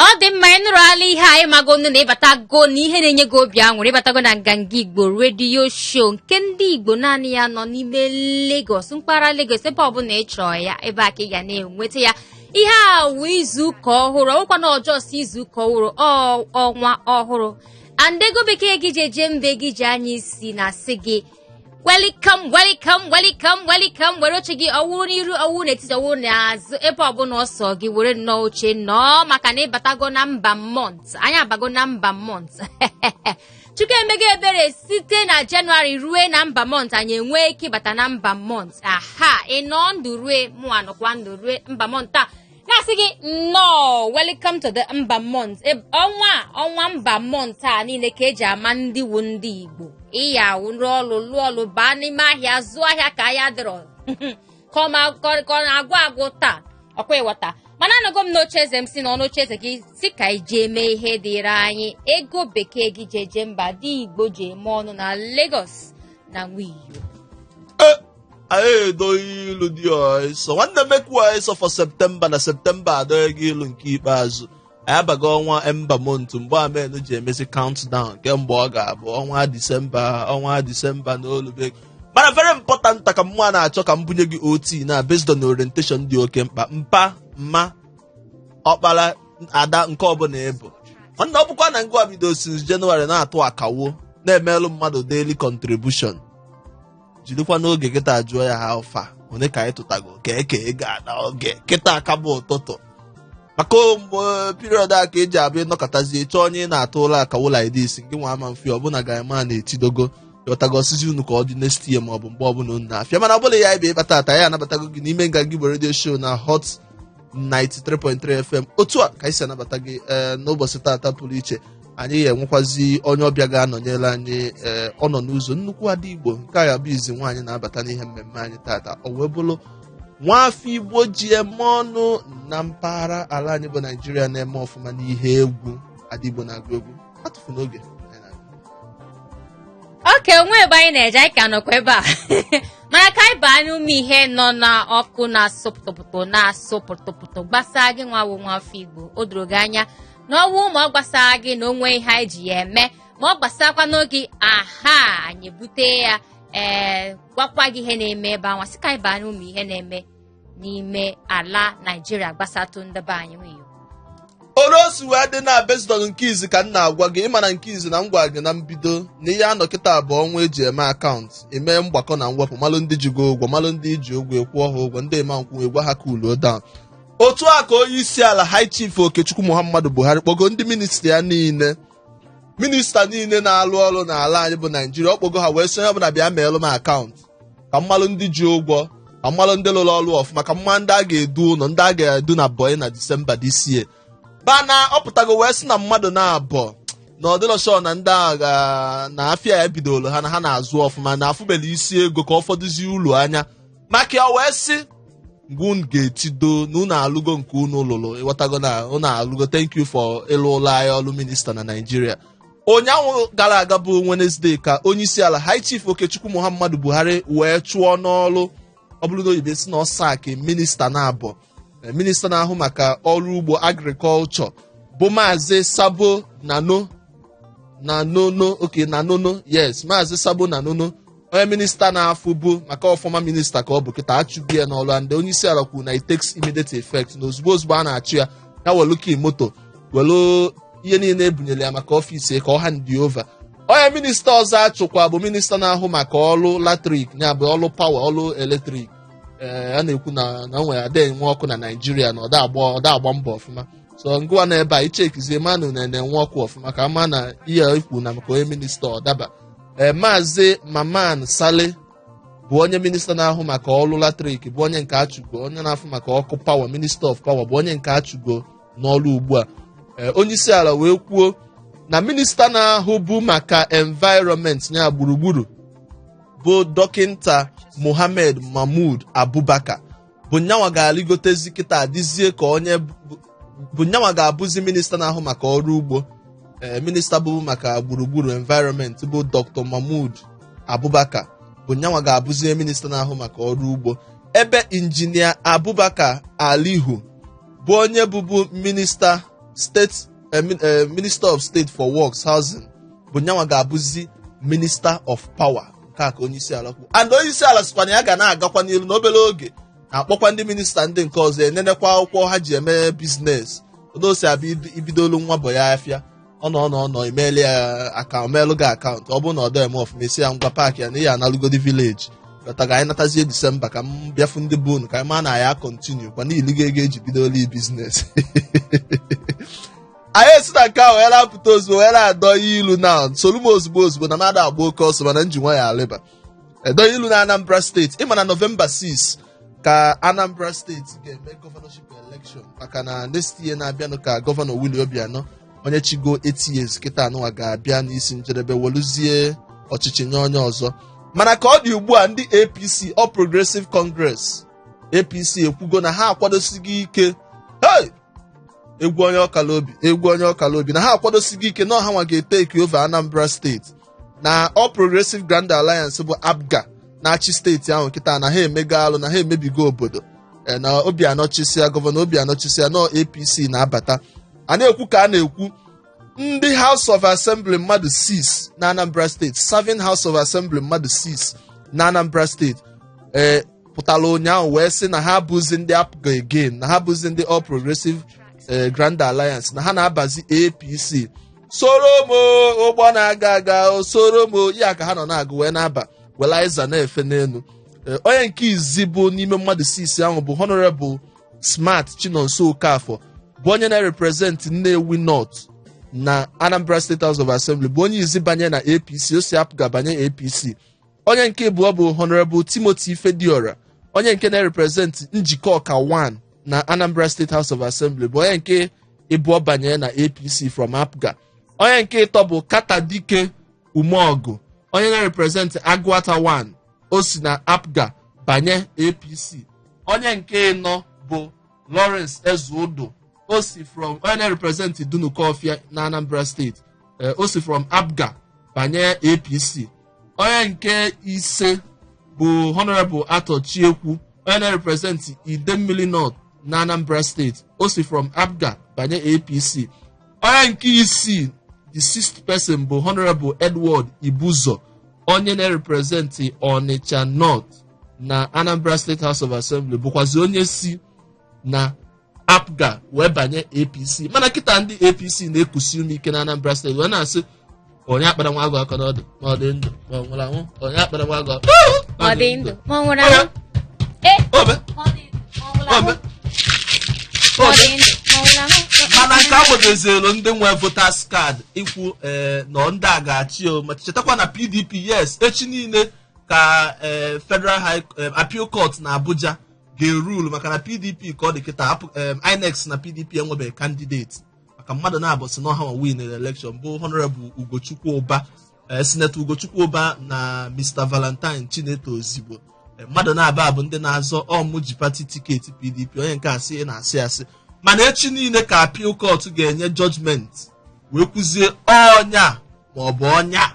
ọ dị mma ị nụrụ ala ihe anyị magonu na ịbatago na ihe na-enye gị obi aṅụrị ịbatago na nganga igbo redio show nke ndị igbo naanị ya nọ n'ime Lagos mpaghara Lagos ebe ọbụla ị chọọ ya ebe a ka ị ga na-enweta ya ihe a wụ izu ụka ọhụrụ ọ wụkwa na just izu ụka ọhụrụ ọnwa ọhụrụ and ego bekee gị ji eje mba gị ji anya isi na-asị gị welcome welcome welcome welcome were oche gị ọ wụrụ n'iru ọ wụrụ n'etiti ọ wụrụ n'azụ ebe ọbụla ọ sọ gị were nnọọ oche nọọ maka na ịbatago na ember month anyị abago na ember month chukwu emego ebere site na January rue na ember month anyị enwee ike ịbata na ember month aha ị nọọ ndụ rue mụ anọkwa ndụ rue ember month a na-asị gị nnọọ welcome to the ember month ọnwa a, ọnwa ember month a niile ka eji ama ndị wu ndị igbo ịya awụ rụọ ọrụ lụọ ọrụ baa n'ime ahịa zụọ ahịa ka ya dịrị ka ọ ma- ka ọ- ka ọ na-agwụ agwụ taa ọ kwa ị ghọta mana anọgo m n'oche eze m sị nọọ n'oche eze gị si ka iji eme ihe dịrị anyị ego bekee gị ji eje mba ndị igbo ji eme ọnụ na Lagos na nwiyo anyị edoghị ilu dị ụsọ nwanne m ekwuwa ịsọ for septemba na septemba adọghị gị ilu nke ikpeazụ anyị abago ọnwa ember month mgbe a men ji emezi countdown ke mgbe ọ ga-abụ ọnwa disemba ọnwa disemba na-elube mana very important ka m na-achọ ka m bunye gị OT na based on orientation dị oke mkpa mpa mma ọkpara ada nke ọbụla ị bụ nwanne ọ bụkwa na ngwa bido since January na-atụ akawo na-emelụ mmadụ daily contribution jirikwa n'oge kịta jụọ ya how far one ka anyị tụtago ka e kee ego a n'oge kịta a ka bụ ụtụtụ maka mgbe period a ka eji abụ ị nọkatazie chọọ onye ị na-atụlụ akawo like this nwa ama mfe ọ bụ na ị ga-ama na etidogo ị ghọtago ọ sịzi unu ka ọ dị next year ma ọ bụ mgbe ọbụla unu na-afụ ya mana ọ bụla ya ebe ịkpa taata anabatago gị n'ime nganga igbo redio show na Hot 93.3 FM otu a ka anyị si anabata gị ee n'ụbọchị taata pụrụ iche anyị ga-enwekwazi onye ọbịa ga-anọnyere anyị ee ọ nọ n'ụzọ nnukwu ada igbo nke a ga-abụ izi nwaanyị na-abata n'ihe mmemme anyị taata o wee bụrụ nwaafọ igbo ji eme ọnụ na mpaghara ala anyị bụ naijiria na-eme ọfụma n'ihe egwu ada igbo na-agụ egwu atụfuna oge okay o nwe ebe anyị na-eje anyị ka nọkwa ebe a mana ka anyị baa n'ime ihe nọ n'ọkụ na-asụ pụtụpụtụ na-asụ pụtụpụtụ gbasaa gị nwa wụ nwafọ igbo o doro gị anya na ọ wụ ma ọ gbasarọ gị na o nwe ihe anyị ji ya eme ma ọ gbasakwanụ gị aha anyị bute ya ee gwakwa gị ihe na-eme ebe anwa sị ka anyị baa n'ime ihe na-eme n'ime ala naijiria gbasatụ ndebe anyị nweyo olu o si wee dị na based on nke izi ka m na-agwa gị ị ma na nke izi na m gwara gị na mbido na ihe a nọ kịta bụ ọnwa eji eme akaụntụ eme mgbakọ na mwepụ malụ ndị ji gị ụgwọ malụ ndị i ji ụgwọ ị kwụọ ha ụgwọ ndị eme nkwụ egwa ha cool down otu a ka onye isi ala high chief okechukwu muhammadu buhari kpọgo ndị ministri ya niile minista niile na-alụ ọrụ n'ala anyị bụ naijiria ọ kpọgo ha wee sị onye ọbụla bịa meelụ m akaụntụ ka m malụ ndị ji ụgwọ ka m malụ ndị lụrụ ọrụ ọfụma ka m ma ndị a ga-edu ụlọ ndị a ga-eduna bọị na disemba this year bana ọ pụtago wee sị na mmadụ naabọ na ọ dịlọ sure na ndị a ga na afịa ya bidoro ha na ha na-azụ ọfụma na afụbelọ isi ego ka ọ fọdụzie ulu anya maka ya wee sị mgbe unu ga-etido na unu alụgo nke unu lụrụ ị ghọtago na unu alụgo thank you for ịlụlụ anyị ọrụ minista na naijiria ụnyaahụ gara aga bụ Wednesday ka onye isi ala High Chief Okechukwu Muhammadu Buhari wee chụọ n'ọrụ ọ bụrụ na oyibo sị na ọ sack minista naabọ eh, minista na-ahụ maka ọrụ ugbo agrikọlchọ bụ maazị Sabo Nano Nanono okay Nanono yes maazị Sabo Nanono onye minista na-afụbu maka ọ former minista ka ọ bụ kịta achụgo ya n'ọlụ and onye isi ala kwuru na it takes immediate effect na ozugbo ozugbo a na-achụ ya ya welu key moto welu ihe niile ebunyere ya maka ọfịs ya ka ọ hand over onye minista ọzọ achụkwa bụ minista na-ahụ maka ọlụ latrik ya bụ ọlụ pawa ọlụ eletrik ee a na-ekwu na na o nwere ada enwe ọkụ na naijiria na ọ da agba ọ da agba mbọ ọfụma so ngịwa na ebe a ị chekizie ma unu na-enwe ọkụ ọfụma ka a ma na ihe e kwulu maka onye minista ọ daba ee maazị mamman sale bụ onye minista na-ahụ maka ọrụ latrik bụ onye nke achụgo onye na-afụ maka ọkụ power minister of power bụ onye nke achụgo n'ọrụ ugbu a ee onye isi ala wee kwuo na minista na-ahụbu maka environment ya gburugburu bụ dọkịnta mohammed mahmud abubakar bụ nyanwa ga-alịgotezi kịta dịzie ka onye bụ- bụ nyanwa ga-abụzi minista na-ahụ maka ọrụ ugbo ee minista bụbu maka gburugburu environment bụ dr mahmud abubakar bụ nyanwa ga-abụzi minista na-ahụ maka ọrụ ugbo ebe injinia abubakar aliyu bụ onye bụbu minista steeti eh, min- eh, minister of state for works housing bụ nyanwa ga-abụzi minister of power nke a ka onye isi ala kwuru and onye isi ala sịkwa na ya ga na-agakwa n'ilu n'obere oge na-akpọkwa ndị minista ndị nke ọzọ enenekwa akwụkwọ ha ji eme biznes otu o si abụ ib- i bidolu nwa bọị afịa ọ nọ ọ nọ ọ nọ emeela ya akaụntụ meelụ gị akaụntụ ọ bụrụ na ọ dọ eme ọfụma ị sị ya ngwa paakị ya na ihe analụgodi vileji but ka anyị natazie disemba ka m bịa fụ ndị be unu ka anyị maa na ya continue kwa niile gị ego eji bidoolu biznes anyị esi na nke ahụ were apụta ozugbo wee na-adọ ilu na solu m ozugbo ozugbo na m ada agba oke ọsọ mana m ji nwayọ alịba dọ ilu na anambra steeti ị ma na nọvemba 6 ka anambra steeti ga-eme gọvanọship elekshọn maka na next year na-abịanụ ka gọvanọ Willie Obianọ onye chịgo 8 years kịtaa nụnwa ga-abịa n'isi njedebe weluzie ọchịchị nye onye ọzọ mana ka ọ dị ugbu a ndị apc All Progressive Congress apc ekwugo na ha akwadosigo ike hey! egwu onye ọkala obi egwu onye ọkala obi na ha akwadosigo ike na ọ hanwa ga-etake over anambra steeti na all progressive grand alliance bụ apga na-achị steeti ahụ kịta na ha emego alụ na ha emebigo obodo e, na obianọ chịsịa gọvanọ obianọ chịsịa na apc na-abata a na-ekwu ka a na-ekwu ndị house of assembly mmadụ 6 na anambra steeti serving house of assembly mmadụ 6 na anambra steeti ee pụtara ụnyaahụ wee sị na ha abụzi ndị APGA again na ha abụzi ndị All Progressive eh, Grand Alliance na ha na-abazi APC soro m o, ụgbọ na-aga aga o, soro m o, ya ka ha nọ na-agụ wee na-aba welu azịza na-efe n'elu Eh, onye nke izi bụ n'ime mmadụ 6 ahụ bụ Honorable Smart Chinonso Okafor bụ onye na-represent Nnewi North na Anambra State House of Assembly bụ onye izi banye na APC o si APGA banye APC onye nke ịbụọ bụ honorable timothy ifediora onye nke na-represent njikọka 1 na anambra state house of assembly bụ onye nke ịbụọ banye na apc from apga onye nke ịtọ bụ carter dike umeọgụ onye na-represent agụata 1 o si na apga banye apc onye nke ịnọ bụ Lawrence Ezeudu o si from onye na-represent Dunukọfịa na Anambra steeti ee, o si from APGA banye APC onye nke ise bụ Honorable Arthur Chiekwu onye na-represent Idemmili North na Anambra steeti o si from APGA banye APC onye nke isii the sixth person bụ Honorable Edward Ibuzo onye na-represent Onitsha North na anambra state house of assembly bụkwazi onye si na apga wee banye apc mana kịta ndị apc na-ekusi ume ike na anambra steeti wee na-asị onye akpala nwa agụ aka n'ọdụ ma ọ dị ndụ ma ọ nwụrụ anwụ onye akpala nwa agụ aka ma ọ dị ndụ ma ọ nwụrụ Ọya, anwụ ee obe ma ọ dị ma ọ nwụrụ anwụ obe ma ọ obe dị ndụ ma ọ nwụrụ anwụ mana nke agbadozielu ndị nwe voters card ikwu ee na ọ ndị a ga-achị o ma chetakwa na pdp yes echi niile ka eh, federal high eh, appeal court na abuja ga-erule maka na pdp ka ọ dị kịta apụ- eh, inec sị na pdp enwebeghị kandideti maka mmadụ naabọ sị na ọ hanwa win elekshon bụ honorable ugochukwu ụba eh, senator ugochukwu ụba na mr valentine chineto ozigbo Eh, mmadụ naabọ a bụ ndị na-azọ ọ mụ ji pati tiketi pdp onye nke a sị ị na-asị asị mana echi niile ka appeal court ga-enye judgment wee kwuzie onye a ma ọ bụ onye a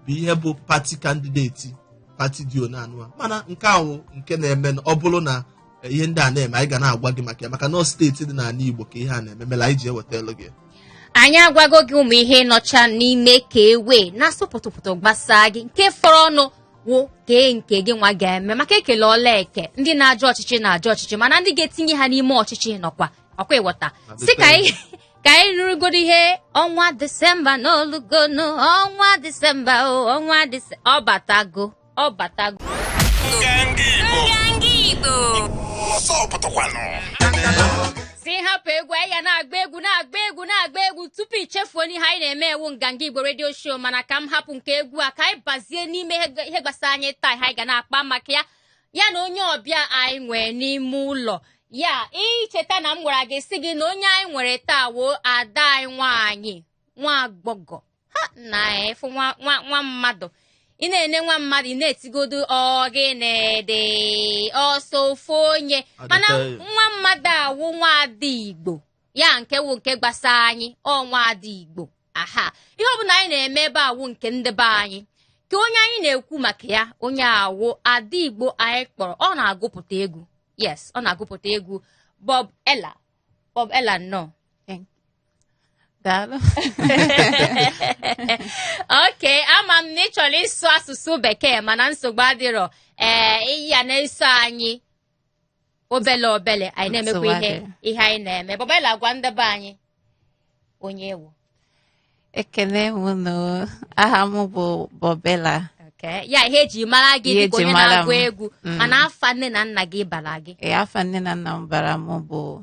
bụ ihe bụ pati kandideti pati dị one anụ a mana nke a wụ nke na-eme na ọ bụrụ na eh, ihe ndị a na-eme anyị ga na-agwa gị maka ya maka na ọ steeti dị n'ala Igbo ka ihe a na-eme mela anyị ji ewetelu gị anyị agwago gị ụmụ ihe nọcha n'ime ka e wee na-asụ pụtụpụtụ gbasaa gị nke fọrọ nụ wụ kee nke gị nwa ga-eme maka e kelu ọlụ eke ndị na-azọ ọchịchị na-azọ ọchịchị mana ndị ga-etinye ha n'ime ọchịchị nọkwa ọkwa ị ghọta At the sị ka same anyị ka anyị nụrụgodo ihe ọnwa disemba na o lugonu ọnwa disemba o ọnwa disemba ọ batago ọ batago sị hapụ egwu anyị ya na-agba egwu na-agba egwu na-agba egwu tupu i chefuo na ihe anyị na-eme wụ nganga igbo redio show mana ka m hapụ nke egwu a ka anyị bazie n'ime ihe gbasara anyị taa ihe anyị ga na-akpa maka ya ya na onye ọbịa anyị nwere n'ime ụlọ ya i cheta na m gwara gị sị gị na onye anyị nwere taa woo ada anyị nwaanyị nwa agbọghọ ha na-efu nwa nwa nwa mmadụ ị na-ene nwa mmadụ ị na-etigodo ọ gịnị dị ọ sọ ofu onye mana nwa mmadụ a wụ nwa ada igbo ya nke wụ nke gbasara anyị ọ nwa ada igbo aha ihe ọ bụla anyị na-eme ebe a wụ nke ndị be anyị ka onye anyị na-ekwu maka ya onye a wụ ada igbo anyị kpọrọ ọ na-agụpụta egwu yes ọ na-agụpụta egwu bob ella bob ella nnọọ Daalụ. okay ama m na ị chọrọ ịsụ asụsụ bekee mana nsogbu adịrọ ee ị ya na-eso anyị obele obele anyị na-emekwa Nsogbu adịghị. ihe anyị na-eme bob ella gwa ndị be anyị onye ị wụ ekele m unu aha m bụ bob ella Okay. ya ihe eji mara gị dịka onye na-agụ egwu Ihe eji mara m. Mm. mana afa nne na nna gị bara gị Ee, afa nne na nna m bara m bụ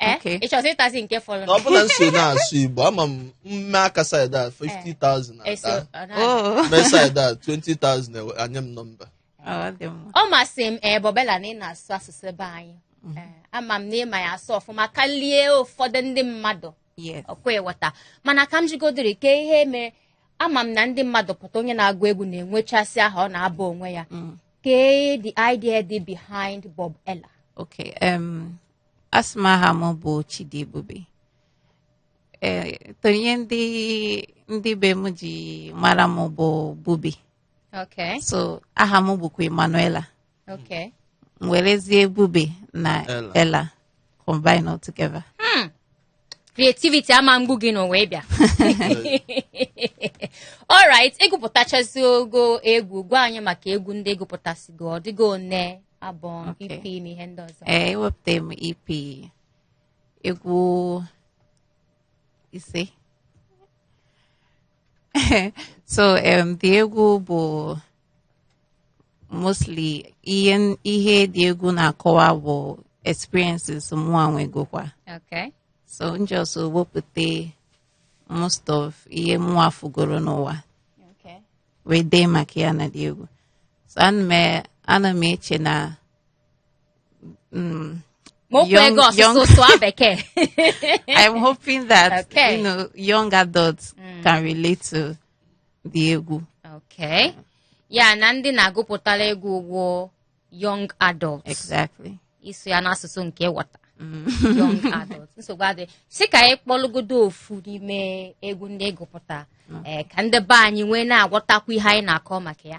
Eh? Okay. ị chọzi ịtazi nke fọrọ na ọ bụlụ na ị so na-asụ igbo ama m mme aka saịdị a 50,000 Eso, ada ọ na- Oh. mme saịdị a 20,000 ewe- anye m nọmba Ọ dị mma. ọ masị m ee bob ella na ị na-asụ asụsụ be anyị Ee, ama m na ị ma ya asụ ọfụma karịa ụfọdụ ndị mmadụ Yes. ọkwa ị ghọta mana ka m jụgodiri kee ihe mere ama m na ndị mmadụ pụta onye na-agụ egwu na-enwechasị aha ọ na-aba onwe ya Kee the idea dị behind Bubella. Okay, um, asị m aha m bụ Chidiebube. Eh, though ihe ndị ndị be m ji mara m bụ Bubi. Okay, So aha m bụkwa Emanuela. okay. M werezie Bubi na Ella. Ella combine all together. creativity ama mgbu gị n'ụwa ịbịa alright ị gụpụtachasịgo egwu gwa anyị maka egwu ndị ị gụpụtasịgo ọ dịgo one abụ Okay. EP na ihe ndị ọzọ ee ewepụta m EP egwu ise so um, the egwu bụ mostly ihe n- ihe the egwu na-akọwa bụ experiences mụa nwegokwa Okay. so m just wepụta most of ihe mụa fụgoro n'ụwa Okay. wee dee maka ya na the egwu so ana m e- ana m eche na mm, Ma okwu Young- ego asụsụ young- sụọ bekee. I'm hoping that Okay. you know young adults can relate to the egwu okay ya na ndị ị na-agụpụtara egwu bụkwu young adults exactly ị sụọ ya n'asụsụ nke wọta mm. young adults nsogbu adịghị sị ka anyị kpọlụgodo ofu n'ime egwu ndị ị gụpụta mm. eh, ka ndị be anyị wee na-aghọtakwu ihe anyị na-akọ maka ya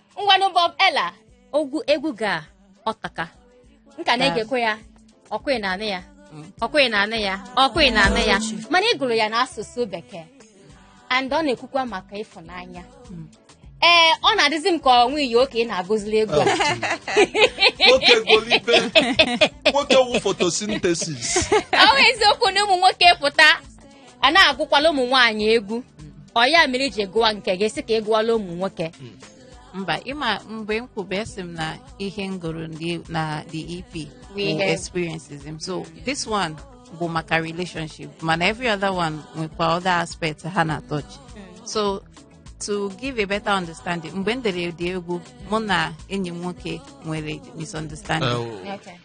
ngwanụ Bubella egwu gị atọka m ka na-egekwa ya ọkwa ị na-anụ ya ọkwa ị na-anụ ya ọkwa ị na-anụ ya mana ị gụrụ ya n'asụsụ bekee and ọ na-ekwukwa maka ịfụnanya ee ọ na-adịzi m ka o nwe ọyị oke ị na-agụzili egwu a nwoke golibe nwoke wụ photosynthesis ọ bụ eziokwu na ụmụ nwoke pụta a na-agụkwala ụmụ nwaanyị egwu ọ ya mere i ji gụwa nke gị sị ka ị gụwala ụmụ nwoke mba ịma mgbe m kwube asị m na ihe m gụrụ ndị- na the EP Bụ bụ ihe. experiences m so this one bụ maka relationship mana every other one nwekwa other aspect ha na touch so to give a better understanding mgbe m dere the egwu mụ na enyi m nwoke nwere misunderstanding Okay.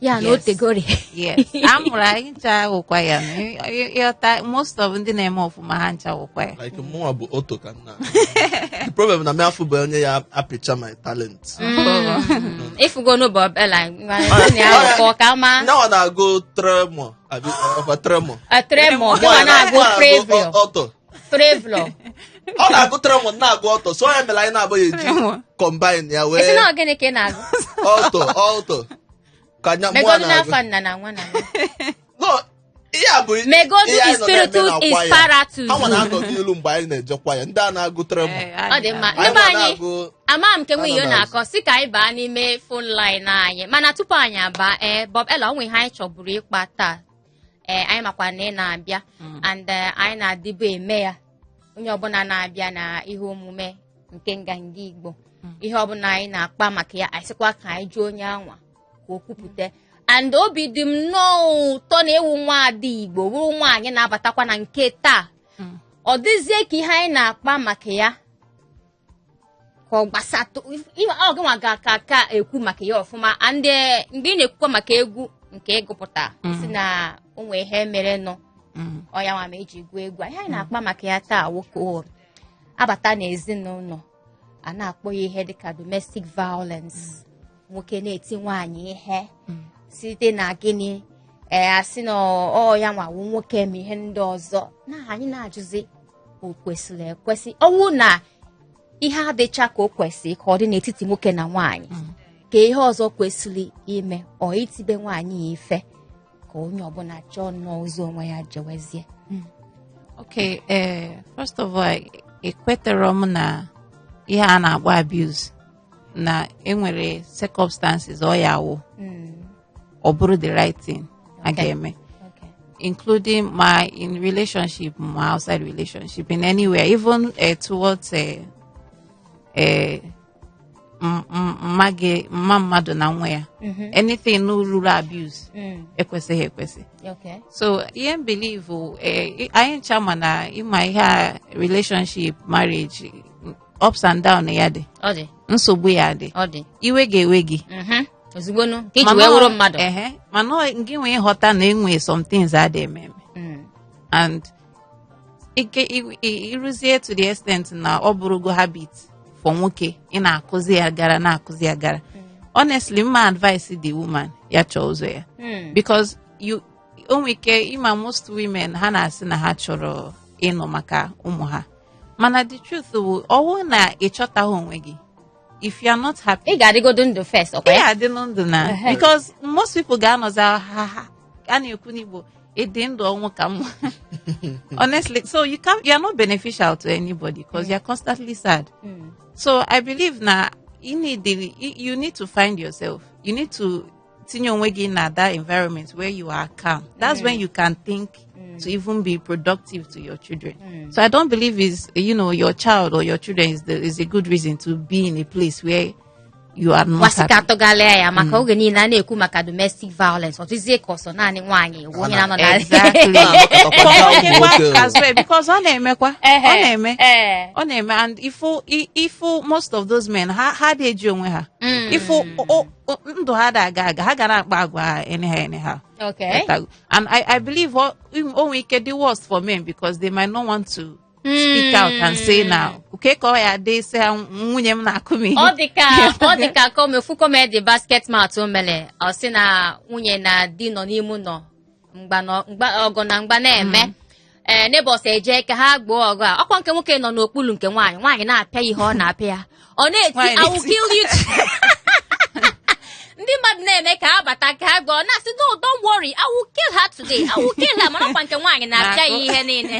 ya na o Yes. tegori yes a mụrụ anyị ncha wụkwa ya Ị- ị- ịghọta most of ndị na-eme ọfụma ha ncha wụkwa ya like mụnwa bụ oto ka nna the problem na m afụbe onye ya apịcha my talent ị fụgo na Bubella na-akọ ka ma nyawa na-agụ tremọ abi ọkwa tremọ tremọ kama na-agụ previo ọtọ Treble. ọ na-agụ treble na-agụ alto so ya mere anyị na-abụghị eji Treble. combine ya Esi wee na ọ gịnị ka ị na-agụ? alto alto ka anya mmụọ Megodu na-agụ n'afa nna na nwa na nwa. No, ihe a bụ Megodu ihe anyị is nọ na-eme spiritus na is choir. paratus. Anwa na-anọ n'ilu mgbe anyị na-eje choir ndị a na-agụ treble Ee, Ọ dị mma. anyị Ndị be nwa anyị, na-agụ ama m nke nwe ihe ọ Anọ na- na-akọ si ka anyị baa n'ime phone line anyị mana tupu anyị abaa ee Bob Ella o nwe ihe anyị chọburu ịkpa taa ee anyị makwa na ị na-abịa Mm. and eh, anyị na-adịbu eme ya onye ọbụla na-abịa na ihe omume nke Nganga Igbo Mm. ihe ọbụla anyị na-akpa maka ya anyị sịkwa ka anyị jụọ onye anwa ka o kwupụta and obi dị m nnọọ ụtọ na ị wụ nwa ada Igbo wụrụ nwaanyị na-abatakwa na nke taa Mm. ọ dịzie ka ihe anyị na-akpa maka ya ka ọ gbasatụ ihe ọ gịnwa ga-aka ekwu maka ya ọfụma and eh, mgbe ị na-ekwukwa maka egwu nke ị gụpụta sị na o nwee ihe merenụ Mm. ọ ya nwa ma e ji gụọ egwu ihe anyị na-akpa maka ya taa nwoke o abata n'ezinụlọ a na-akpọ ya ihe dịka domestic violence nwoke na-eti nwaanyị ihe site na gịnị ee a sị na ọ ya nwa wụ nwoke ma ihe ndị ọzọ na anyị na-ajụzi o kwesịrị ekwesị ọ wụ na ihe adịcha ka o kwesịrị ka ọ dị n'etiti nwoke na nwaanyị ka ihe ọzọ kwesịrị ime ọ itibe nwaanyị ya ife ka onye ọbụla chọọ nnọọ ụzọ onwe ya jewezie Okay, eh, first of all, ekweterọ m na ihe a na-akpọ abuse na e nwere circumstances ọ ya-awụ Mm. ọ bụrụ the right thing a Okay. ga-eme Okay. including ma in relationship ma outside relationship in anywhere even uh, towards uh, uh, m- m- ma gị- ma mmadụ na nwa ya anything ruru abuse Mm. ekwesịghị ekwesị Okay. so ihe m believe eh, anyị ncha ma na ị ma ihe a relationship marriage ups and down ya-adị ọ dị nsogbu ya-adị ọ dị iwe ga-ewe gị Mhm. ozugbo nu ka e ji Mana wee ọ- wụrụ mmadụ ehe, mana ọ- gị nwee nghọta na e nwe some things adị eme eme Mm. and ike i- i- i ruzie to the extent na ọ bụrụgo habit for nwoke ị na-akụzi ya gara na-akụzi ya gara honestly m ma advise the woman ya chọọ ụzọ ya Mm. because you o nwere ike ị ma most women ha na-asị na ha chọrọ ịnọ maka ụmụ ha mana the truth bụ ọ wụ na ị chọtaghị onwe gị if you are not happy ị ga-adịgodo ndụ first ọ kwa ị ya-adịlụ ndụ na Ehe. because most people ga-anọzi ha ha a na-ekwu n'Igbo ịdị ndụ ọnwụ ka mma honestly so you can you are not beneficial to anybody because you are constantly sad Mm. so i believe na you need the, you need to find yourself you need to tinye onwe gị na that environment where you are calm that's when you can think to even be productive to your children so i don't believe is you know your child or your children is the, is a good reason to be in a place where you are not a sị ka happy. a tụgharịa ya maka oge niile a na-ekwu maka domestic violence ọ dịzie ka ọ sọ naanị nwaanyị wụ onye na-anọ na Exactly. Onye nwa Nwoke. as well, because ọ na-emekwa ọ Ehe, na-eme ee. ọ na-eme and ị fụ ị- ị fụ most of those men ha ha adị eji onwe ha ị fụ o- o- ndụ ha ada aga aga ha ga na-akpa agwa ha anyhow anyhow Okay. Ghọtago? and i i believe o o nwere ike dị worse for men because they might not want to speak out and say na o kee ka ọ ya-adị sị na nwunye m na-akụ m ihe ọ dị ka ọ dị ka com- ofu comedy Basketmouth o mere ọ sị na nwunye na di nọ n'ime ụlọ mgba na- mgba- ọgụ na mgba na-eme ee neighbours eje ka ha gboo ọgụ a ọ kwa nke nwoke nọ n'okpuru nke nwaanyị nwaanyị na-apịa ya ihe ọ na-apịa ya ọ na-eti Nwaanyị I will na-eti. kill you ndị mmadụ na-eme ka ha bata ka ha gboo ọ na-asị no don't worry I will kill her today I will kill her mana ọ kwa nke nwaanyị na-apịa ya ihe niile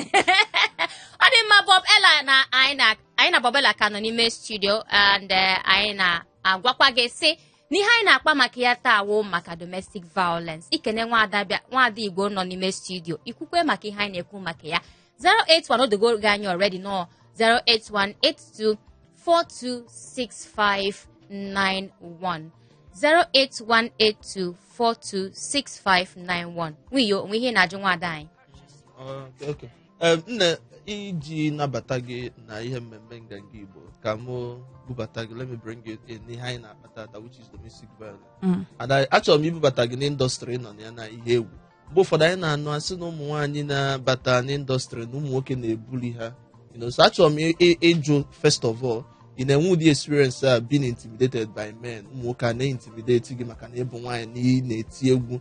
ọ dị mma Bob Ella na anyị na anyị na Bob Ella ka nọ n'ime studio and eh, anyị na-agwakwa gị sị n'ihe anyị na-akpa maka ya taa wụ maka domestic violence ikene nwaada bịa nwaada igbo nọ n'ime studio ikwukwe maka ihe anyị na-ekwu maka ya 081 odogo gị anyị already nọ 08182426591 08182426591 nwiyo o nwe ihe ị na-ajụ nwaada anyị Oh, okay. Ee, nne iji nabata gị na ihe mmemme nganga igbo ka mụ bubata gị let me bring you in n'ihe anyị na-akpa taata which is domestic violence Mm. ada achọrọ m ibubata gị n'industry ị nọ na ya na ihe egwu mgbe ụfọdụ anyị na-anụ a sị na ụmụ nwaanyị na-abata n'industry na ụmụ nwoke na-ebully ha you know, so achọrọ m ị- ị- ịjụ first of all ị na-enwe ụdị experience a being intimidated by men ụmụ nwoke a na-intimidate gị maka na ị bụ nwaanyị na ị na-eti egwu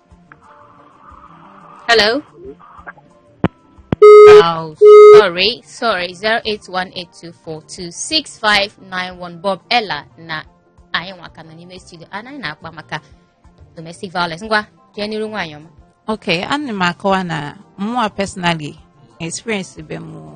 Hello? Oh, sorry, sorry. 08182426591 Bob Ella na anyị nwa ka nọ n'ime studio a anyị na-akpa maka domestic violence ngwa jee n'iru nwaanyị ọma Okay, ana m akọwa na mụnwa personally experience be m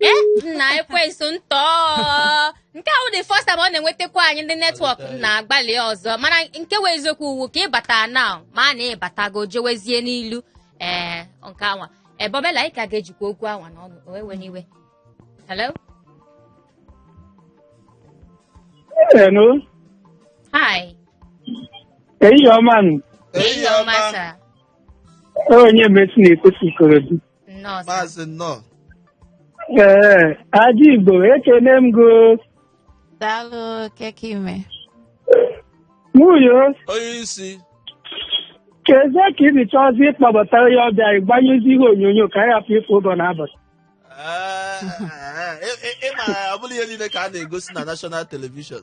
ee nna ekwensu ntọ nke ahụ dị first time ọ na-enwetakwa anyị ndị network na-agbalị ọzọ mana nke wụ eziokwu wụ ka ị bata na ma a na ị batago jewezie n'ilu ee nke anwa Bob Ella anyị ka ga-ejikwa okwu anwa n'ọnụ wee ewena iwe hello Hello. hi Ehihie ọma nụ. ehihie ọma sir onye mesi na-ekwu si Ikorodu nnọọ sir. maazị nnọọ Ee, Aji Igbo, ekene m gị. daalụ kee ka i me Nwunye, onye isi keezi ka i ji chọzi ịkpọbata onye ọbịa ị gbanyụzi ihe onyonyo ka anyị hapụ ịfụ ụzọ n'abalị. Ee, ee, ee, ị- ị ma ọ bụrọ ihe niile ka a na-egosi na national television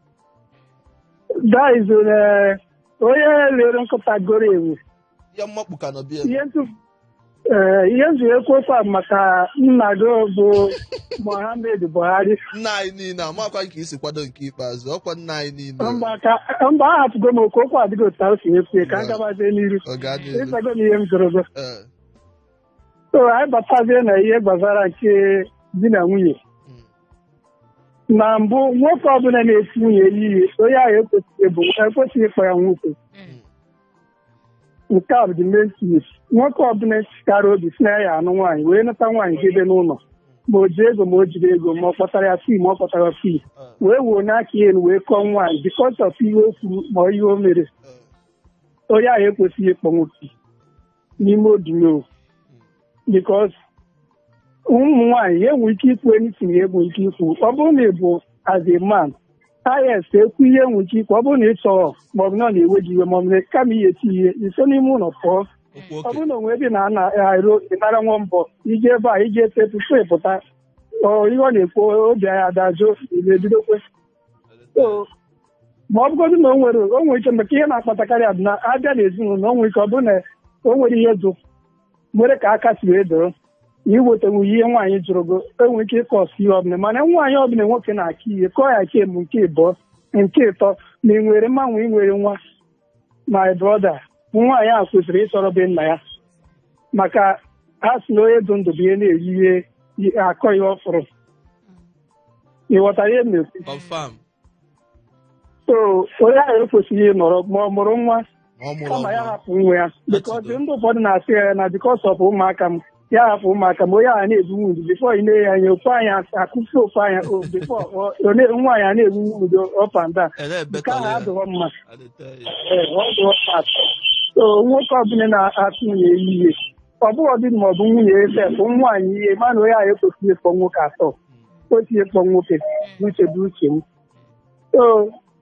That is uh, onye lere nkịta goro enwe. ihe mmakpu ka nọ be ya Ihe ntụ eh, ihe m ji ekwu okwu a maka nna gị bụ Mohammed Buhari. nna anyị niile amakwa nke isi kwado nke ikpeazụ ọkwa nna anyị niile Mgbe aka mba ahapụgo m okwu okwu adịghị otu ahụ i si ekwu ya ka a gabazie n'iru. ọ ga-adị elu Ịzago m ihe m jụrụ gị. Ee. so anyị batazie na ihe gbasara nke di na nwunye Mm. na mbụ nwoke ọbụla na-eti nwunye ya ihe onye ahụ ekwesịghị bụ ekwesịghị ịkpọ ya nwoke Mm. nke a bụ the main thing. nwoke ọbụla chịkara obi sị na ya anụ nwaanyị wee nata nwaanyị debe n'ụlọ ma o ji ego ma o jirọ ego ma ọ kpọtara ya free ma ọ kpọtarọ free Ah. wee wenie aka ya elu wee kụọ nwaanyị because of ihe o kwuru ma ihe o mere Ah. onye ahụ ekwesịghị ịkpọ nwoke n'ime odino because ụmụ nwaanyị ya enwe ike ikwu anything ya enwe ike ikwu ọ bụrụ na ị bụ as a man i si ekwu ihe enwe ike ikwu ọ bụrụ na ị chọrọ maọbụ na ọ na-ewe gị iwe maọbụ na kama ị ya-eti ya ihe i si n'ime ụlọ pụọ okwu ọ oke bụrụ na o nwee ebe na ana arụ ịnara nwa mbọ i jee ebe ahụ i jee tupu ị pụta ọ ihe ọ na-ekwu obi ya adajụọ na-ebidokwe So, ma ọ bụgodị na o nwere o nwere ike maka ihe na-akpatakarị a bụ na a bịa n'ezinụlọ o nwere ike ọ bụrụ na o nwere ihe dụ nwere ka aka si wee doro na iwetanwu ihe nwaanyị jụrụ gị enwere ike ịkọ ọsụ ihe ọbụla mana nwaanyị ọbụla nwoke na-akụ ihe kụọ ya nke mbụ nke ịbụọ nke ịtọ ma ị nwere nwa ma ị nwerọ nwa my brother nwaanyị a kwesịrị ịsọrọ be nna ya maka a sị na onye dụ ndụ bụ ihe na-eri ihe yi- akọ ihe ọ fụrụ ị ghọtara ihe m na-ekwu confam so onye ahụ ekwesịghị ịnọrọ ma ọ mụrụ nwa ma ọ mụrọ kama ya ọnwa hapụ nwa ya because Atụgo. ndị ụfọdụ na-asị ya na because of ụmụaka m ya hapụ ụmụaka ma onye ahụ na-ebu wound before ị na-enye anya ofu anya akụfu ofu anya o- before ọ- ọ na- nwaanyị a na-ebu wound up and down Ele nke ebetọla ahụ ya. adịghọ mma I dey tell you. Ee, ọ dịghọ mma at all. so nwoke ọbụla na-akụ nwunye ya ihe ọ bụghọdị ma ọ bụ nwunye ya sef nwaanyị ihe mana onye ahụ ekwesịghị ịkpọ nwoke at all e kwesịghị ịkpọ nwoke uche bụ uche m so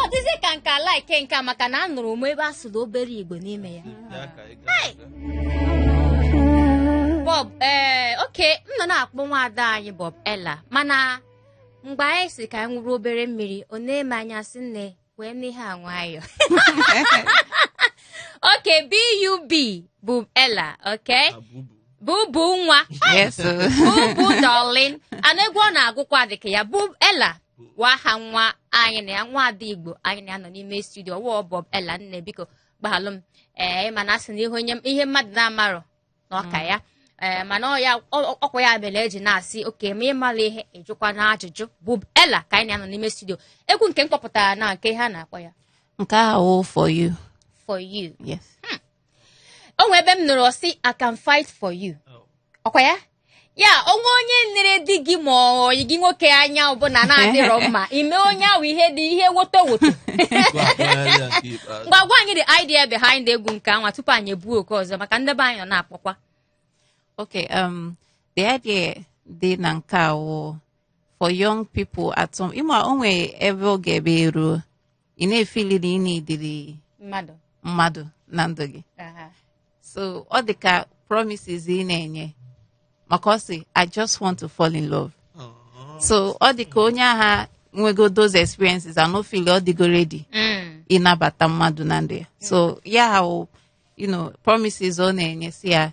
ọ dịzị ka m ka like nke a maka na anụrụ m ebe a sụrụ obere igbo n'ime ya Bub ee eh, oke m nọ na-akpọ nwaada anyị Bubela mana mgbe anyị sị ka anyị ṅụrụ obere mmiri o nee m anya sị nne wee nụ ihe a nwayọ oke bub bubela oke bubu nwa Yes. bubu darling ana egwu ọ na-agụkwa dịka ya bubela wụ aha nwa anyị na ya nwa ada igbo anyị na ya nọ n'ime studio ọ wụ bubela nne biko gbaghalụ m ee mana a sị na ihe onye ihe mmadụ na-amarọ na ọ ka ya ee mana ọ ya ọ- ọkwa ya mere e ji na-asị oke ma ị marọ ihe ị jụkwanụ ajụjụ bubela ka anyị na ya nọ n'ime studio egwu nke m kpọpụtara na nke a na-akpọ ya nke ahụ for you for you yes o nwee ebe m nụrụ ọ sị i can fight for you ọkwa ya ya o nwee onye nere di gị ma ọyị gị nwoke anya ọbụla na-adịrọ mma i mee onye ahụ ihe dị ihe woto woto ngwa gwa anyị the idea behind egwu nke a nwa tupu anyị ebuo oku ọzọ maka ndị be anyị nọ na-akpọkwa okay um the idea dị na nke a wụ for young people at some ị ma o nwe ebe oge ebe eruo ị na-efili na ị needịrị mmadụ mmadụ na ndụ gị aha so ọ dị ka promises ị na-enye maka ọ sị i just want to fall in love so ọ dị ka onye ahụ nwego those experiences and now feel ọ dịgo ready Mm. ịnabata mmadụ na ndụ ya so ya ha wụ, you know promises ọ na-enye sị ya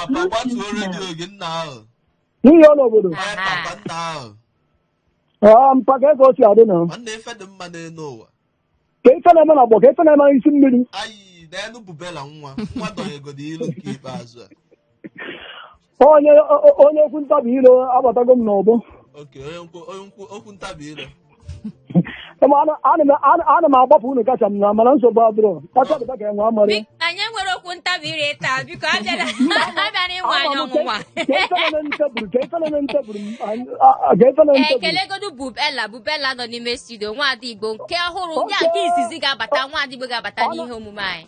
Papa gbatuo redio gị nna ahụ. n'ihi ọnụ obodo Ee, papa nna ahụ. Ee, mpa ka ego si adị na Nwanne ife dị mma n'elu ụwa. ka ife na-eme na agbọ ka ife na-eme n'isi mmiri Ayi, n'elu bubela nwa. Nwa dọnyegodi ilu nke ikpeazụ a. onye o- o- onye okwu ntabi ire abatago m n'ọgbọ Oke, onye nkwu- onye nkwu- okwu ntabi ire. Ema ana- ana m- ana- ana m agbapụ unu kacha m na mana nsogbu adịrọ kacha dịba ka enwe amara Biko, anyị enwerọ okwu ntabi ire taa biko abịana abịana ịnwa anyị ọnwụnwa kelegodu bubela bubela nọ n'ime studio nwaada igbo nke ọhụrụ ya nke izizi ga-abata nwaada igbo ga-abata n'ihe omume anyị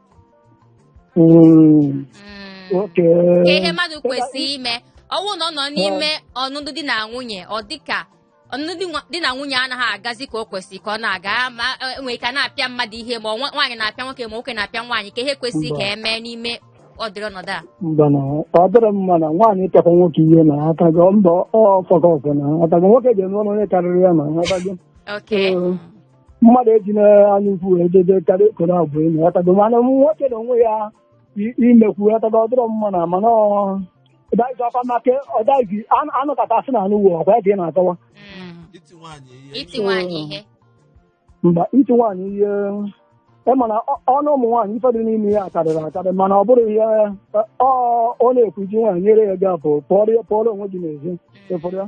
Mm, Mm. oke Kee ihe mmadụ kwesịrị ime ọ wụ na ọ nọ n'ime ọnụnụ di na nwunye ọ dịka ọnụnụ di nwa- di na nwunye anaghị agazi ka o kwesịrị ka ọ na-aga ya ma e nwere ike a na-apịa mmadụ ihe ma ọ nwa- nwaanyị na-apịa nwoke ma nwoke na-apịa nwaanyị kee ihe kwesịrị ka e mee n'ime ụdịrị ọnọdụ a mba na ọ dịrị mma na nwaanyị ịpịakwa nwoke ihe na aka gị mba ọ fọkọ ọfọ na aka gị nwoke ga-eme ọnụ onye karịrị ya na aka gị oke Ee. mmadụ eji n'anya ukwu wee dede karịa ekoro abụ enyi ghọtago mana nwoke na onwe ya i- imekwu ghọtago ọ dịrọ mma na mana ọ- ọdaghịzi ọkwa maka ọdaghịzi anụ- anụ kata asị na anụ uwe ọkwa ya ka ị na-akọwa Mm. iti nwaanyị ihe iti nwaanyị ihe mba iti nwaanyị ihe ị ma na ọ- ọnụ ụmụ nwaanyị ife dị n'ime ya karịrị akarị mana ọ bụrụ ihe ọ ọ na-ekwu iji nwaanyị nyere ya gap pụọrọ ya- pụọrọ onwe gị n'ezi ịfụrụ ya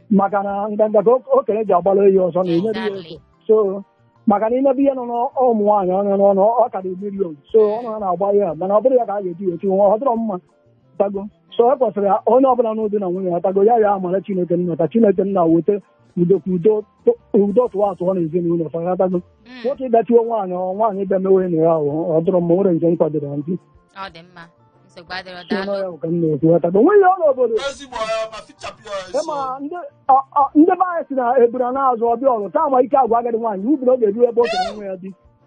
Mm. maka na nganga ka o- okenye ji agbara ehi ọsọ na enyere ya ego Exactly. so maka na ị nebe ihe nọ n'ụmụ nwaanyị ọnụ n'ọnụ ọ karịrị million so ọnụ ha na-agba ya mana ọ bụrụ ya ka a ga-eji ya eti nwa ọ dịrọ mma tago so e kwesịrị ha- onye ọbụla nọ di na nwunye ya tago ya ya mara chineke nna ka chineke nna weta udo ka udo tụ- udo tụwa atụwa na ezinụlọ fa ya tago Mm, nwoke ịdachiwe nwaanyị ọ nwaanyị bịa mewe enyi ya ahụ ọ dịrọ mma o nwerọ nke m kwadoro ndị ọ dị mma nsogbu adịrọ si daalụ n'ọya bụ ka m na-ekwu ya tago nweghị ọrụ obodo ezigbo ya ma fichapụ ya ọsọ ịma ndị ọ- ọ- ndị be anyị si na ebura na-azụ ọbịa ọrụ taa ma ike agwa agadi nwaanyị ubiri ọ ga-eru ebe o tere nwa ya di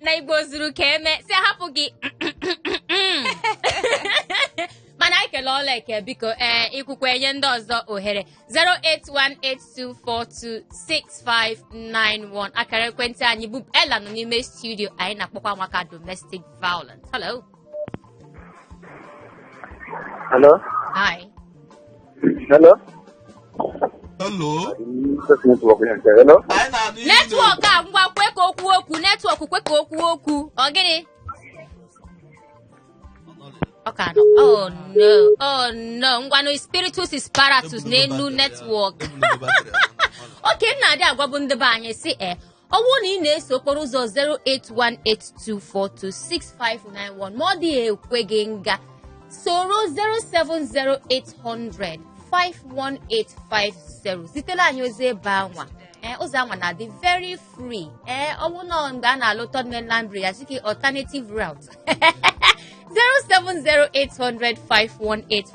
na igbo zuru ka eme sị hapụ gị mana anyị kele ọla eke biko ee ikwukwa enye ndị ọzọ ohere 08182426591 akara ekwentị anyị bụ Ella nọ n'ime studio anyị na-akpọkwa maka domestic violence hello Hello? Hi. Hello? Hello? Just network here. Hello? Anyị na-anụ ihe Netwọk a ngwa kwe ka o kwuo okwu netwọk kwe ka o kwuo okwu ọ gịnị ọ ka nọ oh no oh no ngwanụ spiritus is paratus n'elu netwọk ọ ka m na-adị agwabu ndị be anyị sị ee ọ bụrụ na ị na-eso okporo ụzọ 08182426591 ma ọ dịghị ekwe gị ngwa soro 07080051850 zitere anyị ozi ebe anwa ee ụzọ anwa na-adị very free ee ọ bụrụ na mgbe a na-alụ third mainland bridge ya chike alternative route 07080051850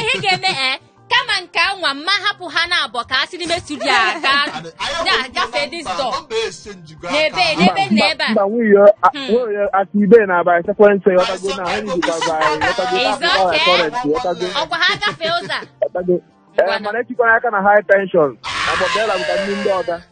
ihe ga-eme e eh, kama nke nwa mma hapụ ha na-abọ ka a si n'ime studio a gaa gafee this door n'ebe n'ebe na ebe a ọkwa ha gafee ụzọ eh, mana etikwana aka na high tension a Bob Ella maka ndị ndị ọga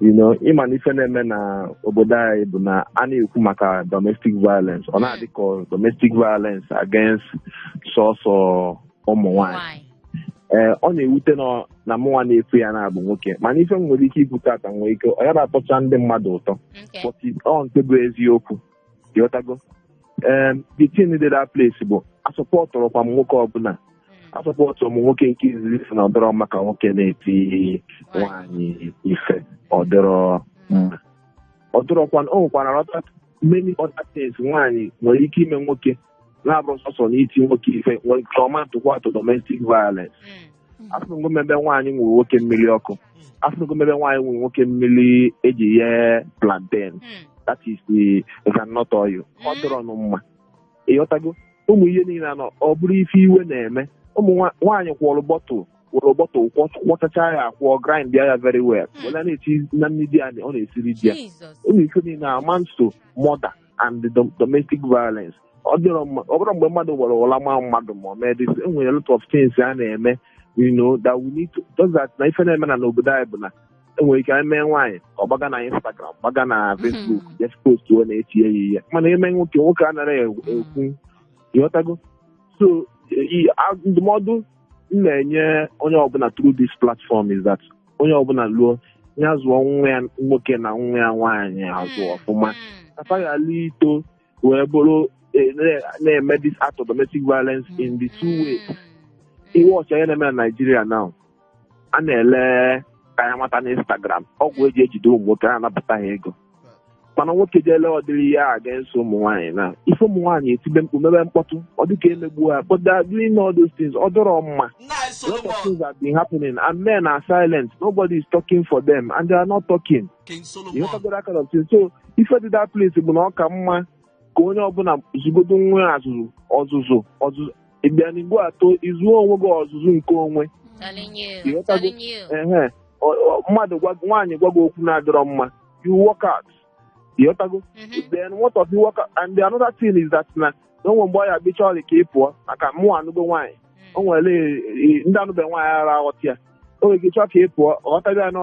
you know ịma na ife na-eme na obodo anyị bụ na a na-ekwu maka domestic violence ọ na-adị ka domestic violence against sọsọ ụmụ nwanyị Nwanyị. ee ọ na-ewute m na mụnwa na-ekwu ya na-abụ nwoke mana ife m nwere ike ikwu tata nwee ike ọ yara atọcha ndị mmadụ ụtọ Okay. but ọ nke bụ eziokwu ịghọtago ee the thing dị that place bụ asọpọtụrọkwa m nwoke ọbụla asọpọtụrọ m nwoke nke izizi si na ọ dịrọ mma ka nwoke na-eti nwaanyị ife ọ dịrọ mma ọ dịrọkwa o nwekwara ọta many other things nwaanyị nwere ike ime nwoke na-abụrọ sọsọ na iti nwoke ife nwere ike ịmatụkwa atụ domestic violence afụnụgo m ebe nwaanyị nwere nwoke mmiri ọkụ afụgo m ebe nwaanyị nwere nwoke mmiri e ji ye plantain Mm. that is the groundnut oil ọ Mm. dịrọnụ mma ịghọtago ụmụ ihe niile anọ ọ bụrụ ife iwe na-eme ụmụ nwa- nwaanyị kwọrọ bottle were bottle kwọ- kwọchacha ya akwọ grind ya very well Mm. were na-eti na nri a na- ọ na-esiri di ya Jesus. ụmụ ife niile amounts to murder and dom- domestic violence ọ dịrọ mma ọ bụrọ mgbe mmadụ gbara ụla ma mmadụ ma ọ mee this e nwere a lot of things a na-eme you know that we need to just that na ife na-eme na n'obodo anyị bụ na e nwere ike e mee nwaanyị ọ gbaga na Instagram gbaga na Facebook just post wee na-etinye ya ihe mana e mee nwoke nwoke anarọ ekwu ekwu. ịghọtago so i- a- ndụmọdụ m na-enye onye ọbụla through this platform is that onye ọbụla luo ya zụọ nwa ya nwoke na nwa ya nwaanyị azụ ọfụma ka fa ghala ito wee bụrụ eh, na- na-eme this act of domestic violence in the two ways ị watch ihe na-eme na Naịjirịa now a na-ele kayamata na Instagram ọgwụ e ji ejide ụmụ nwoke a na-anapụta ha ego mana nwoke jee lee ọdịrị ya against ụmụ nwaanyị na ife ụmụ nwaanyị etibe mkpu mebe mkpọtụ ọ dịka e megbu ha but they are doing all those things ọ dịrọ mma nna anyị so a lot of things have been happening and men are silent nobody is talking for them and they are not talking king you solomon know that kind of thing so ife dị that place bụ na ọ ka mma ka onye ọbụla zụgodu onwe ya ọzụzụ ọzụzụ ọzụzụ is very important ị zụọ onwe gị ọzụzụ nke onwe Telling you, You know, telling you. ehe Ọ- ọ- mmadụ gwa gị- nwaanyị gwa gị okwu na-adịrọ mma you walk out ịghọtago Mhm. then what of you walk out and the another thing is that na na o nwe mgbe ọ ya-abụ ọ chọrọ ka ị pụọ maka mụ anụgo nwaanyị o nwere e- ndị anụbe nwaanyị ara aghọta ya o nwere ike chọọ ka ị pụọ ghọtara ya na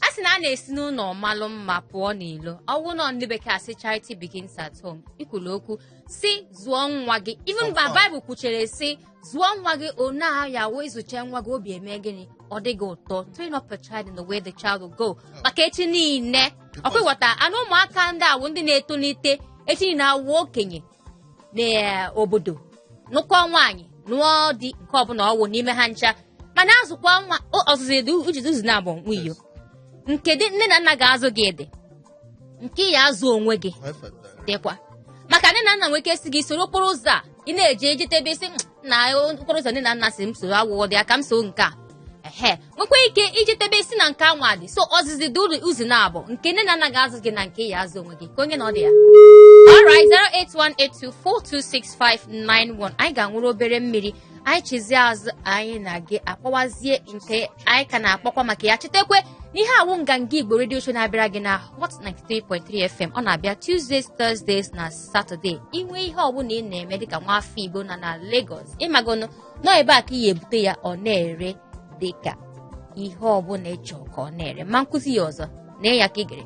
a sị na a na-esi n'ụlọ malụ mma pụọ n'ilo ọ wụnụ ndị bekee asị charity begins at home i kwulu okwu sị zụọ nwa gị even ma baịbụl kwuchere sị zụọ nwa gị one ahụ ya wee zụcha nwa gị obi eme gịnị ọ dị gị ụtọ train up a child in the way the child will go maka echi niile ọ kwa ị ghọta nụ ụmụaka ndị a wụ ndị na-etolite echi niile awụ okenye n'obodo nụkọ nwaanyị nụọ di nke ọbụla ọ wụ n'ime ha ncha mana azụkwa nwa ọzụzụ edu ujizi ụzọ nabọ nwiyo nke ndị nne na nna ga-azụ gị dị nke ị ya-azụ onwe gị dịkwa maka nne na nna nwere ike sị gị soro okporo ụzọ a ị na-eje ejete ebe isi na okporo ụzọ nne na nna sị m soro agwụgwọ bịa ka m so nke a ehe nwekwa ike iji tebe isi na nke anwa dị so ọzụzụ dị ụzọ naabọ nke nne na nna ga-azụ gị na nke ị ya-azụ onwe gị kee onye nọdị ya alright 08182426591 anyị ga-aṅụrụ obere mmiri anyị chizie azụ anyị na gị akpawazie nke anyị ka na-akpakwa maka ya chetakwa na ihe a wụ nganga igbo radio show na-abịara gị na hot 93.3 fm ọ na-abịa tuesdays thursdays na saturday i nwee ihe ọbụla ị na-eme dịka nwa afọ igbo na na Lagos ị magonụ na ebe a ka ị ya-ebute ya ọ na-ere dịka ihe ọbụla ị chọọ ka ọ na-ere ma m kwuzie ya ọzọ na ya ka ị gere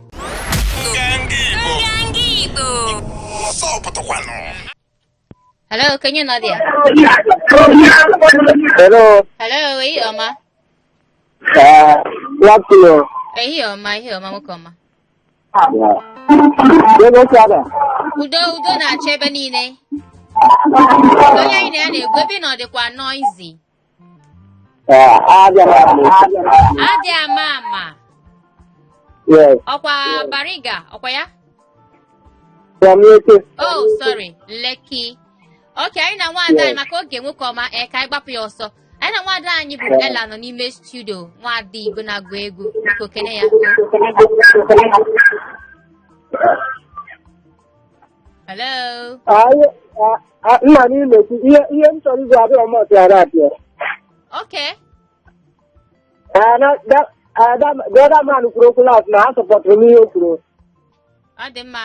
Hello, kee onye nọdị ya? Hello. Hello, ehihie ọma. Ee, eh, good afternoon. Ehihie ọma, ehihie ọma, nwoke ọma. Ebe si ada. udo udo na-achọ ebe niile onye anyị na ya na-ekwu ebe ị nọ dịkwa noisy Ee, abịa m abịa m. adị ama ama Yes, ọkwa bariga ọkwa ya from Lekki. oh sorry Lekki okay anyị na nwaada anyị maka oge nwoke ọma ee ka anyị gbapụ ya ọsọ Anyị na nwada anyị bụ Ella nọ n'ime studio nwada Igbo na-agụ egwu biko kene ya. Hello. Anyị a- a- nna m imekwu ihe ihe m chọrọ ikwu abụọ m ọtịara abịa. Okay. The other man kwuru okwu last na a supportụrụ m ihe o kwuru. Ọ dị mma.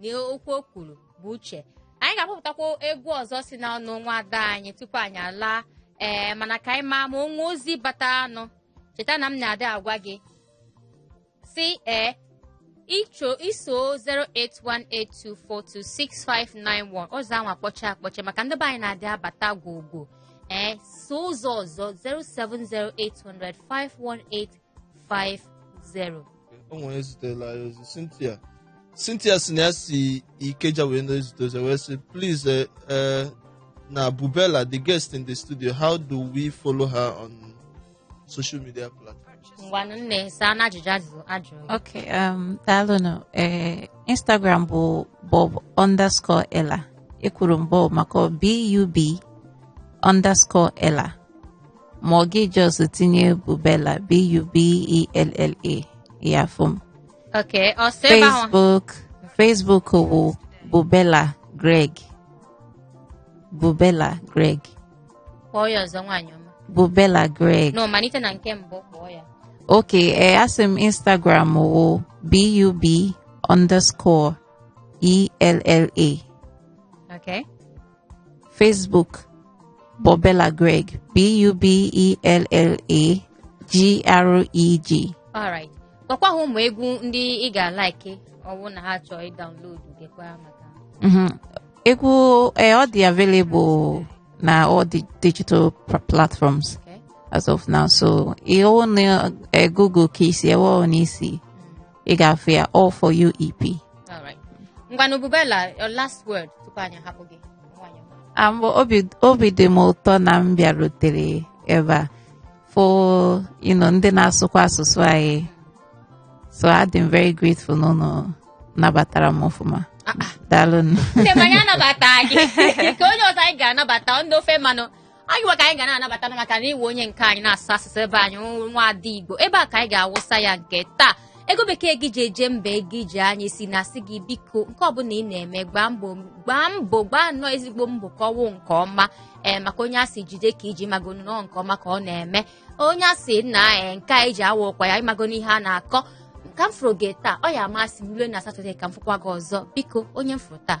na okwu o kwuru bụ uche anyị ga-akpọpụtakwa egwu ọzọ si na ọnụ nwa ada anyị tupu anyị alaa ee mana ka anyị maa ma o nwee ozi bataranụ cheta na m na-adị agwa gị sị ee ị chọọ iso 08182426591 ụzọ ahụ akpọchie akpọchie maka ndị be anyị na-adị abata gwogwo i soo ụzọ ọzọ 070805185 50. o nwere ezitela anyị ozi cynthia cynthia sị na ya si ikeja wee na-ezite ozi wee sị please eh, eh, na bubella the guest in the studio how do we follow her on social media platforms Ngwanụ nne saa na ajụjụ ajụjụ a jụrụ gị. Okay, um, daalụnụ. Eh, Instagram bụ bub underscore ella. Ekwuru m bub maka B-U-B underscore ella. ma ọ gị just tinye bubella b-u-b-e-l-l-a ị ya-afụ m ok ọ sị ebe ahụ facebook facebook bụ bubella greg bubella greg kpọọ ya ọzọ nwaanyị ọma bubella greg no malite na nke mbụ kpọọ ya ok ee asị m instagram wụ bub underscore ella ok Facebook Bubella Greg B U B E L L A G R E G alright gwakwa ha ụmụ egwu ndị ị ga-alike ọwụ na ha chọọ ịdownload gekwa maka Mhm. egwu eh, ọ dị available na all the digital pr- platforms okay? as of now so ihe ọwụ na eh, Google ka i si ewe ọwụ n'isi ị ga-afụ ya All For You EP All right. ngwanụ Bubella your last word tupu anyị hapụ gị nwanyị ọma. Ah, mbụ obi obi dị m ụtọ na m bịarutere ebe a fụ you know, ndị na-asụkwa asụsụ anyị so adị m very grateful na unu nabatara m ọfụma daalụ nụ. nne m anyị anabata gị ka onye ọzọ anyị ga-anabata ndị ofe mmanụ anyị nwa ka anyị ga na-anabata nụ maka na ị wụ onye nke anyị na-asụ asụsụ be anyị nwa- nwa ada igbo ebe a ka anyị ga-awụsa ya nke taa ego bekee gị ji eje mba ego iji anyị si na-asị gị biko nke ọbụla ị na-eme gbaa mbọ gbaa mbọ gbaa nnọọ ezigbo mbọ ka ọwụ nke ọma ee maka onye a sị jide ka i ji magonụ na ọ nke ọma ka ọ na-eme onye a sị na ee nke a i ji awa ụkwa ya ị magonụ ihe a na-akọ ka m fụrụ gị taa ọ ya-amasị m rue na satọde ka m fụkwa gị ọzọ biko onye m fụrụ taa